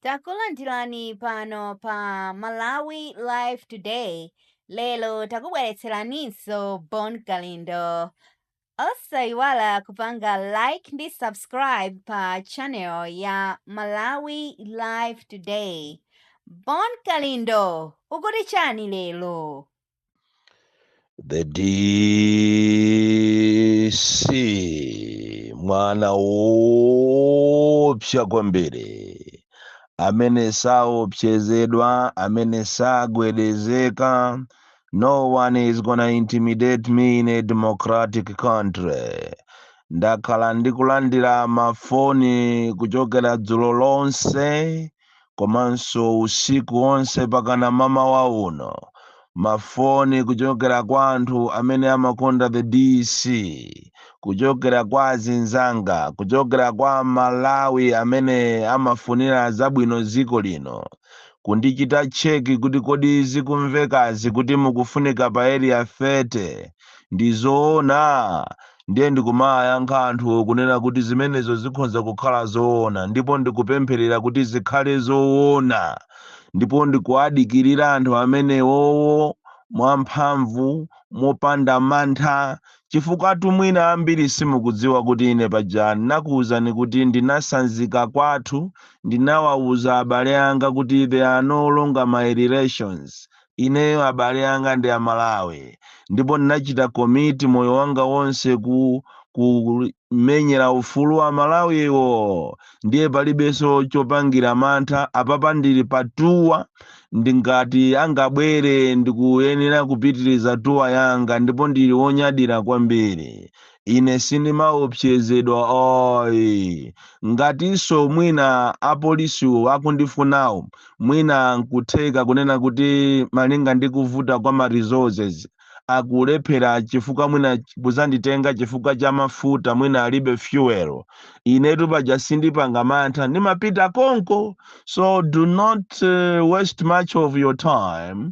Takulandirani pano pa Malawi Live Today. Lero takubweretseraninso Bon Kalindo. Osayiwala kupanga like ndi subscribe pa channel ya Malawi Live Today. Bon Kalindo, ukuti chani lero? the DC mwana woopsa kwambiri amene saopsezedwa amene sagwedezeka no one is gonna intimidate me in a democratic country ndakhala ndikulandira mafoni kuchokera dzulo lonse komanso usiku onse pakana mamawa uno mafoni kuchokera kwa anthu amene amakonda the dc kuchokera kwa azinzanga kuchokera kwa amalawi amene amafunira zabwino dziko lino kundichita cheki kuti kodi zikumvekazi kuti mukufunika pa area 30 ndizoona Ndiye ndikumawayankha anthuwo kunena kuti zimenezo zikhonza kukhala zoona ndipo ndikupempherera kuti zikhale zoona ndipo ndikuwadikirira anthu amenewowo mwamphamvu, mopanda mantha, chifukwatu mwina ambiri simukudziwa kuti ine paja ndinakuuzani kuti ndinasanzika kwathu, ndinawauza abale anga kuti they are no longer my relations, Ineyo abale anga ndi a Malawi ndipo ndinachita commit moyo wanga wonse kumenyera ufulu wa a Malawiwo ndiye palibenso chopangira mantha apapa ndili pa tour ndi ngati angabwere ndikuyenera kupitiliza tour yanga ndipo ndili wonyadira kwambiri ine sindimaopsezedwa ayi ngatinso mwina apolisiwo akundifunawo mwina nkutheka kunena kuti malinga ndi kuvuta kwa ma resources akulephera chifukwa mwina ch- kuzanditenga chifukwa cha mafuta mwina alibe fuel inetu paja sindipanga mantha ndimapita konko so do not uh, waste much of your time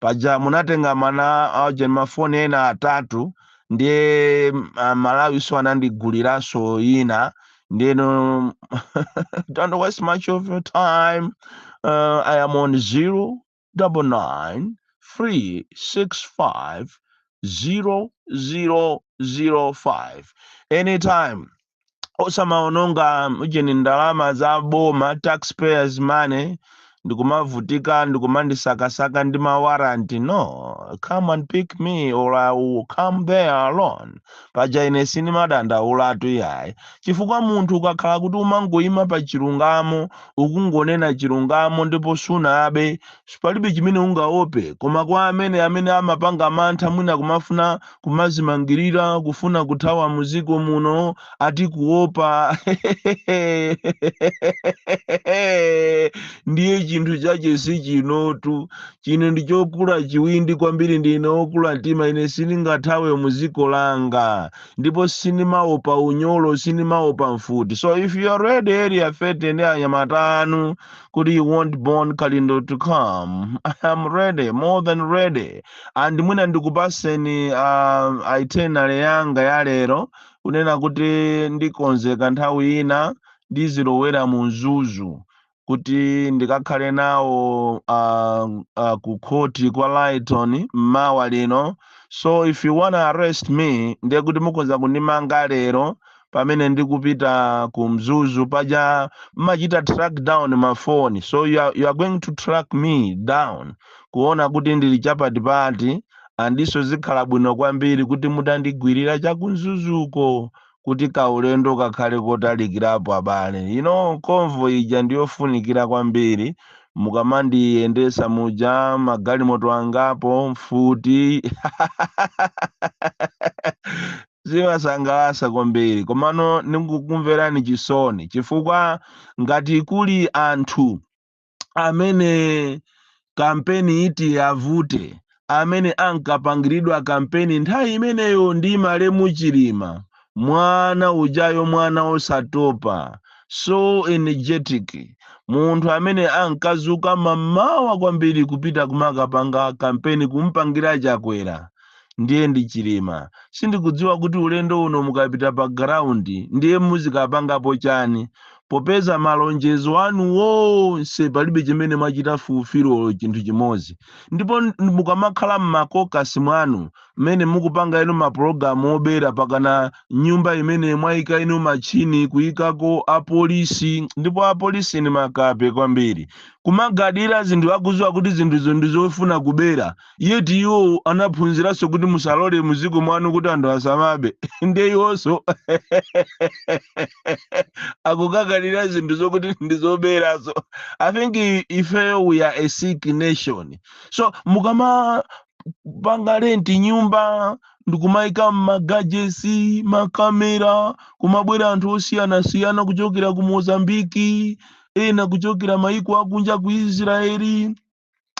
paja munatenga mana aja mafoni ena atatu ndiye ah, malawi so anandiguliraso ina ndeno don't waste much of your time uh, i am on 0 double nine three six five zero zero zero five anytime osamaononga ujeni ndalama za boma taxpayers money ndikumavutika ndikumandisakasaka ndi mawaranti no come and pick me or I will come there alone paja ine sindimadandaulatu iyayi chifukwa munthu ukakhala kuti umangoyima pa chilungamo ukungonena chilungamo ndipo sunabe Palibe chimene ungaope. Koma kwa amene amene amapanga mantha mwina kumafuna kumazimangirira kufuna kuthawa muziko muno ati kuopa ndiye chinthu chache sichinotu chino ndichokula chiwindi kwambiri ndine okula mtima ine sindingathawe muziko langa ndipo sindimaopa unyolo sindimaopa mfuti so if you are ready area 30 ndi anyamata anu kuti you want Bon Kalindo to come i am ready more than ready and mwina ndikupaseni uh, itinerary yanga ya lero kunena kuti ndikonzeka nthawi ina ndizilowera mu mzuzu kuti ndikakhale nawo uh, uh, ku khoti kwa lighton mmawa lino so if you wanna arrest me ndiye kuti mukonza kundimanga lero pamene ndikupita ku mzuzu paja mmachita track down mafoni so you are, you are going to track me down kuona kuti ndili chapatipati andiso zikhala bwino kwambiri kuti mutandigwirira chakumzuzuko kuti kaulendo kakhale kotalikirapo abale you know konvo ija ndiyofunikira kwambiri mukamandiyendesa muja magalimoto angapo mfuti Zimasangalatsa kwambiri komano ndikukumverani chisoni chifukwa ngati kuli anthu amene kampeni iti iwavute amene ankapangiridwa kampeni nthawi imeneyo ndi malemu Chilima mwana ujayo mwana osatopa so energetic munthu amene ankadzuka mmamawa kwambiri kupita kumakapanga kampeni kumpangira Chakwera ndiye ndi chilima sindikudziwa kuti ulendo uno mukapita pa ground ndiye muzikapangapo chani popeza malonjezo anu wonse palibe chimene mwachita fulfil olo chinthu chimodzi ndipo n- mukamakhala mmakokasi mwanu mmene mukupanga inu mapulogalamu obera pakana nyumba imene mwayika inu machini kuyikako apolisi ndipo apolisi ni makape kwambiri kumagadira zinthu akuziwa kuti zinthuzo ndi zofuna kubera yet iwo anaphunziranso kuti musalole muziko mwanu kuti anthu asamabe nde iwonso akukagadira zinthu zokuti ndizoberaso i think i- ifeyo we are a sick nation so mukamapanga renti nyumba ndikumaika magajeti makamera kumabwera anthu osiyanasiyana kuchokera ku mozambiki ena kuchokera maiko akunja ku israeli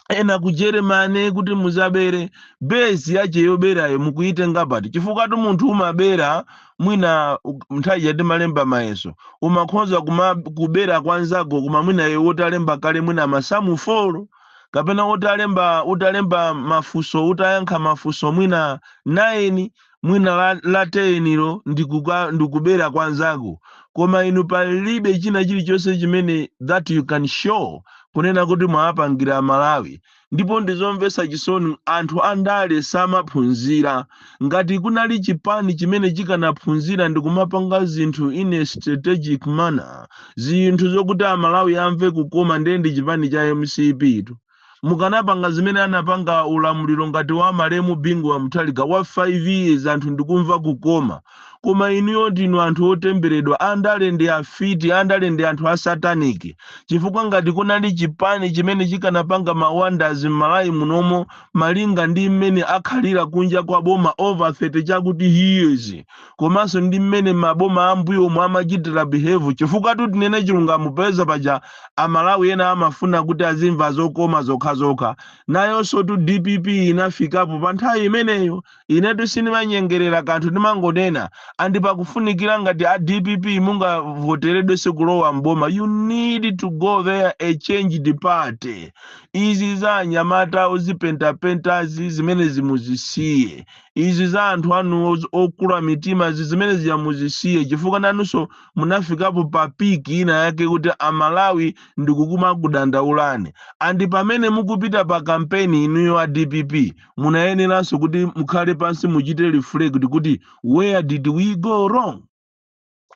ena ku germany kuti muzabere besi yake yoberayo mukuitenga pati chifukwa tu munthu umabera mwina u- nthawi ija timalemba mayeso umakhoza kuma kubera kwa nzako koma mwina iwe utalemba kale mwina masamu folo kapena utalemba utalemba mafunso utayankha mafunso mwina 9 mwina la, la tenilo ndikuka, ndikubera kwa nzako koma inu palibe china chilichonse chimene that you can show kunena kuti mwawapangira amalawi ndipo ndizomvetsa chisoni anthu andale samaphunzira ngati kunali chipani chimene chikanaphunzira ndi kumapanga zinthu in a strategic manner zinthu zokuti amalawi amve kukoma ndiye ndi chipani cha mcp tu mukanapanga zimene anapanga ulamuliro ngati wa malemu bingu wa muthalika wa 5 years anthu ndikumva kukoma koma inuyo ndinu anthu otemberedwa andale ndi afiti andale ndi anthu a satanic chifukwa ngati kunali chipani chimene chikanapanga ma wonders m'malawi munomo malinga ndi mmene akhalira kunja kwa boma over 30 chakuti years komanso ndi mmene maboma ambuyomo amachitira behave chifukwa tu tinene chilungamo popeza paja amalawi ena amafuna kuti azimva zokoma zokhazokha nayonso tu dpp inafikapo pa nthawi imeneyo inetu sindimanyengerera kanthu ndimangonena and pakufunikira ngati a dpp mungavoteredwenso kulowa mboma you need to go there a changed party izi za anyamata ozipentapentazi zimene zija muzisiye Izi za anthu anu oz- okula mitima zi- zimene zija muzisiye chifukwa nanunso munafikapo pa peak ina yake kuti amalawi ndikukumakudandaulani and pamene mukupita pa kampeni inuyo a dpp munayeneranso kuti mukhale pansi muchite reflect kuti where did we go wrong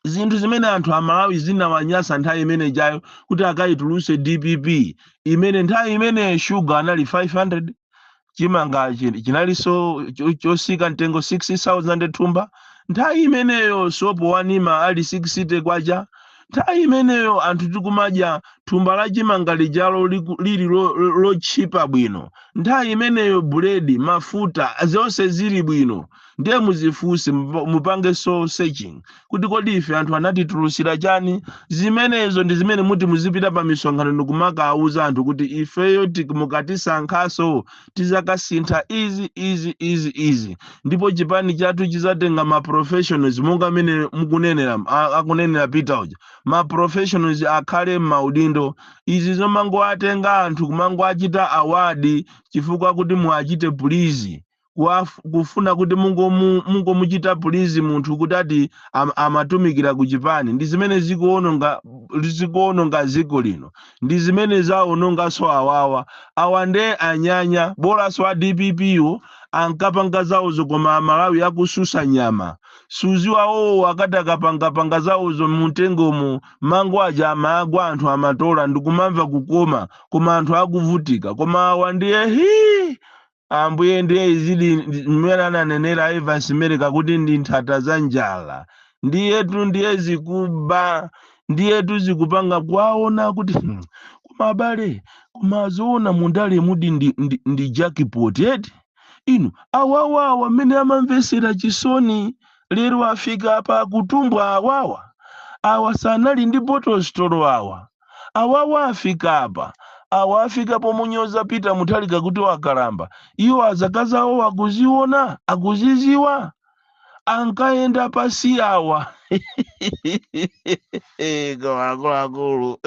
zinthu zimene anthu amalawi zinawanyasa nthawi imene ijayo kuti akayituluse dpp imene nthawi imene shuga anali 500 chimanga chi- chinalinso cho- chotsika mtengo 6000 thumba nthawi imeneyo sopo wanima ali 60 kwacha nthawi imeneyo anthu tikumadya thumba la chimanga lijalo liku- lili lo- lo- lotchipa bwino nthawi imeneyo buledi mafuta zonse zili bwino Ndiye muzifunse mupa- mupange soul searching kuti kodi ife anthu anatitulusira chani zimenezo ndi zimene muti muzipita pa misonkhano ndikumakawauza anthu kuti ifeyo tik- mukatisankhanso tizakasintha izi izi izi izi ndipo chipani chathu chizatenga ma professionals monga mmene mukunenera a- akunenera peter uja ma professionals akhale m'maudindo izi zomangowatenga anthu kumangoachita award chifukwa kuti muachite please kuwaf- kufuna kuti mungomu- mungomuchita please munthu kuti ati am, amatumikira ku chipani ndi zimene zikuononga zikuononga dziko lino ndi zimene zaononganso awawa awa nde anyanya bolanso a dpp wo ankapanga zawozo koma amalawi akususa nyama suziwa owo akati ankapangapanga zawozo mumtengomo mango aja amagwa anthu amatola ndikumamva kukoma koma anthu akuvutika koma awa ndiye hii Ambuye, ndiye izi ndi- mmene ananenera Evans Mereka kuti ndi nthata za njala. Ndiyetu ndiye zikuba, ndiyetu zikupanga kwaona kuti hmm, koma abale, koma zoona mundalemu ndi, ndi, ndi jackpot eti? Inu awawa awa amene amamvetsera chisoni lero afika apa akutumbwa awawa awa sanali ndi bottle store awa Awawa afika apa. Awa afika pomunyoza Peter Muthalika kuti wakalamba. Iwo azaka zawo akuziona? Akuziziwa? Ankayenda pasi awa. Koma akuluakulu.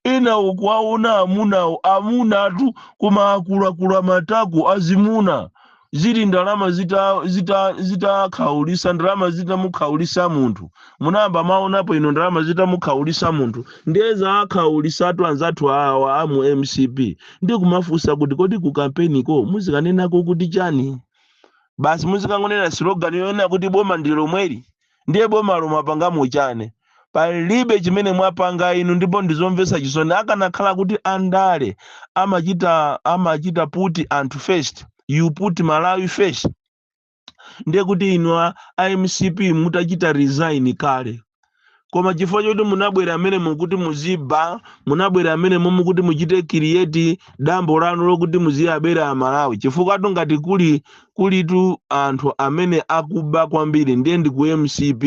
Ena ukuwaona amunawo amunatu koma akuluakulu amatako azimuna. zili ndalama zita zita zitakhaulisa ndalama zitamukhaulisa munthu munayamba mwaonapo inu ndalama zitamukhaulisa munthu ndiye zawakhaulisatu anzathu awa a mu mcp ndi kumafunsa kuti kodi ku kampeniko muzikanenako kuti chani basi muzikangonena slogan yonena kuti boma ndi lomweli ndiye bomalo mwapangamo chani palibe chimene mwapanga inu ndipo ndizomvetsa chisoni akanakhala kuti andale amachita amachita put anthu first you put malawi first ndiye kuti inu a a mcp mutachita resign kale koma chifukwa choti munabwera amene mukuti muziba munabwera amene mukuti muchite create dambo lanu lokuti muziwabera amalawi chifukwatu ngati kuli kulitu anthu amene akuba kwambiri ndiye ndi ku mcp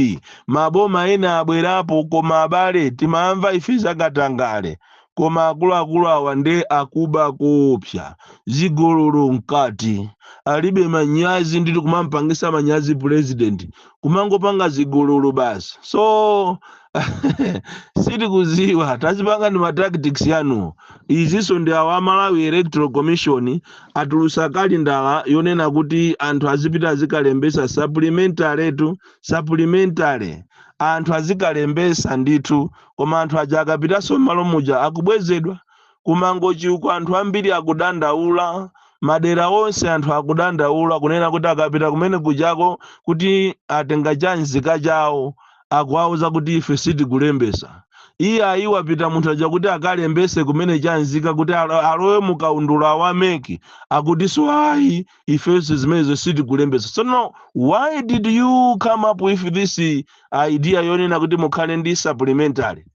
maboma ena abwerapo koma abale timamva ife za katangale koma akuluakulu awa nde akuba koopsa zigololo mkati alibe manyazi nditi kumampangisa manyazi pulezidenti kumangopanga zigololo basi so sitikuziwa tazipangani matactics anuwo izinso ndi awa amalawi electoral commission atulusa kalendala yonena kuti anthu azipita azikalembesa supplementarytu supplementary anthu azikalembesa ndithu koma anthu aja akapitanso m'malo muja akubwezedwa ku mangochi uko anthu ambiri akudandaula madera onse anthu akudandaula kunena kuti akapita kumene kujako kuti atenga chamzika chawo akuwauza kuti ife sitikulembesa iyayi wapita munthu uja kuti akalembese kumene chamzika kuti alo- alowe mukaundula wa meki akutinso ayi ifenso zimenezo sitikulembesa tsono why did you come up with this idea yonena kuti mukhale ndi supplementary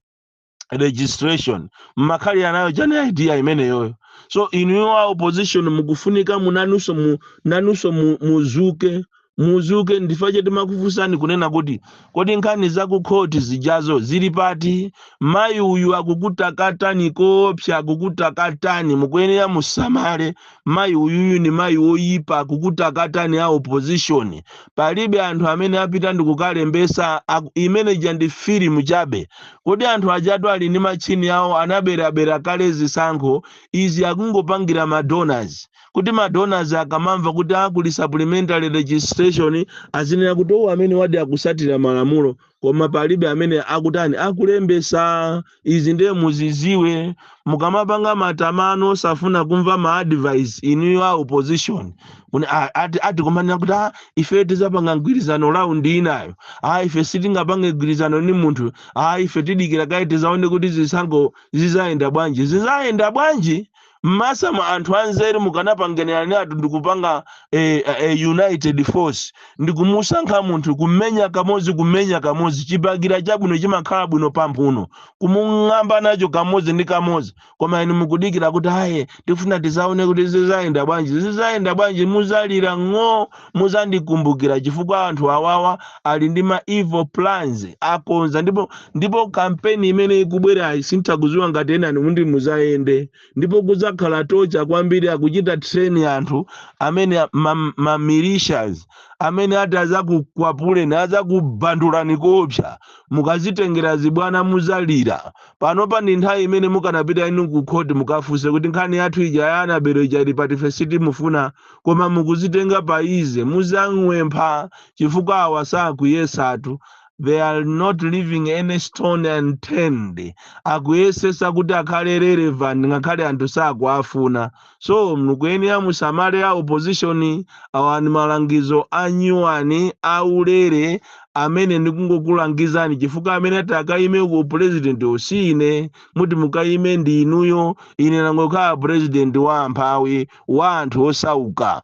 registration mmakhala nayo chani idea imeneyoyo so inuyo a opposition mukufunika nanunso mu, nanunso mu, muzuke muzuke ndifache timakufunsani kunena kuti kodi nkhani za ku khoti zijazo zili pati mayi uyu akukutakatani koopsa akukutakatani mukuyenera musamale mayi uyuyu ni mayi woyipa akukutakatani a opposition palibe anthu amene apita ndikukalembesa imene ija ndi filimu chabe kodi anthu ajatu ali ndi machini awo anaberabera kale zisankho izi akungopangira madonors kuti madonors akamamva kuti akuli supplementary registration azinena kuti owo amenewadi akusatira malamulo koma palibe amene akutani akulembesa izi ndiye muziziwe mukamapanga matama osafuna kumva ma advice inuyo a opposition Mune- a- ati ati kumanena kuti "Ah, ife tizapanga mgwirizano raundi inayo a ife sitingapange mgwirizano ni munthu a ife tidikira kaye tizaone kuti zisankho zizayenda bwanji zizayenda bwanji Mmalo mwa anthu anzeru mukanapanganiranatu ndikupanga a, a, a united force ndikumusankha munthu kummenya kamodzi kummenya kamodzi chibakira chabwino chimakhala bwino pamphuno kumung'amba nacho kamodzi ndi kamodzi koma inu mukudikira kuti aye tifuna tizaone kuti zizayenda bwanji zizayenda bwanji muzalira ng'oo muzandikumbukira chifukwa anthu awawa ali ndi ma evil plans akonza ndipo ndipo kampeni imene ikubwerayi sindikuziwa ngati enani muti muzayende ndipo kuzakhala tocha kwambiri akuchita train anthu amene ma, ma militias amene ati azakukwapuleni azakubandulani koopsa mukazitengera zibwana muzalira panopa ndi nthawi imene mukanapita inu ku court mukafunse kuti nkhani yathu ija ya Annabel ija ili pati fesiti tifuna koma mukuzitenga pa easy muzang'wenta chifukwa awa sakuyesatu they are not leaving any stone unturned akuyesesa kuti akhale relevant ngakhale anthu sakuafuna so mukuyenera musamale a opposition awa ni malangizo anyuwani aulere amene ndikungokulangizani chifukwa amene ati akayime ku president osaine muti mukayime ndi inuyo ine ndangokhala president wa amphawi wa anthu osauka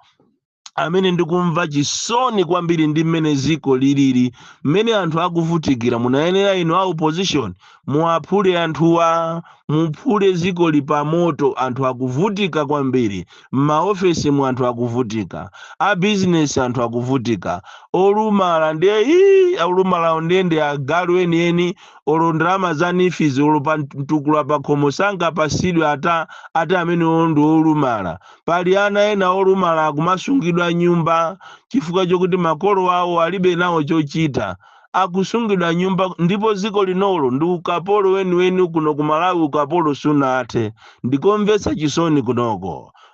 amene ndikumva chisoni kwambiri ndi mmene ziko lilili mmene anthu akuvutikira munayenera inu a opposition muwaphule anthuwa muphule ziko lili pamoto anthu akuvutika kwambiri m'maofesi mu anthu akuvutika a bizinesi anthu akuvutika olumala ndiye ii olumalawo ndiye ndi agalu enieni olo ndalama za NEEF olo pa mtukula pakhomo sangapasidwe ati amenewo ndi olumala pali ana ena olumala akumasungidwa nyumba chifukwa chakuti makolo awo alibe nawo chochita akusungidwa nyumba ndipo ziko linolo ndi ukapolo weniweni kuno ku malawi ukapolo sunathe ndi komvetsa chisoni kunoko